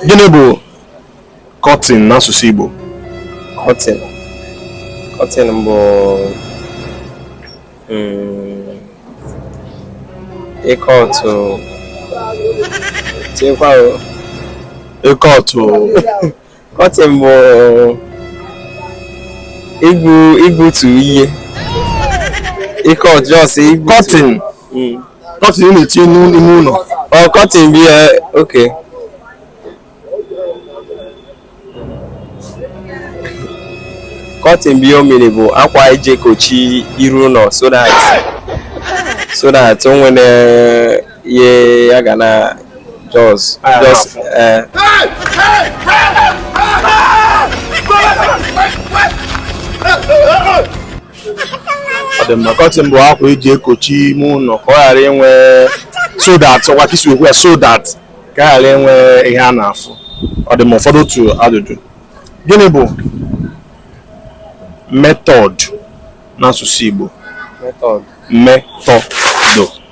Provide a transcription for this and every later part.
gịnị bụ curtain n'asụsụ Igbo curtain curtain bụ mm, ịkọ otu chekwa ịkọ otu Curtain bụ igbu igbutu ihe ịkọ just igbutu curtain curtain ị na-etinye n'u- n'ime ụlọ oh curtain bụ ya okay curtain bụ ya o mere bụ akwa eji ekochi iru ụlọ so that so that o nwere ihe ya ga na just just eh. ọ dị mma curtain bụ akwa eji ekochi ime ụlọ ka ọ ghara inwe so that ọkwa ka isi okwu ya so that ka a ghara inwe ihe a na-afụ ọ dị mma ọ fọdụ otu ajụjụ gịnị bụ method n'asụsụ Igbo method method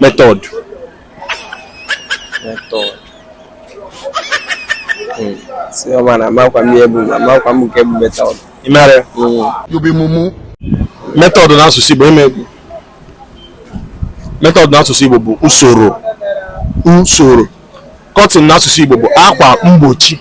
method method hmm. si ọma na amakwa m ihe bụ amakwa m nke bụ method ị mara ya hmm. method n'asụsụ Igbo ime egwu method n'asụsụ Igbo bụ usoro usoro curtain n'asụsụ Igbo bụ akwa mgbochi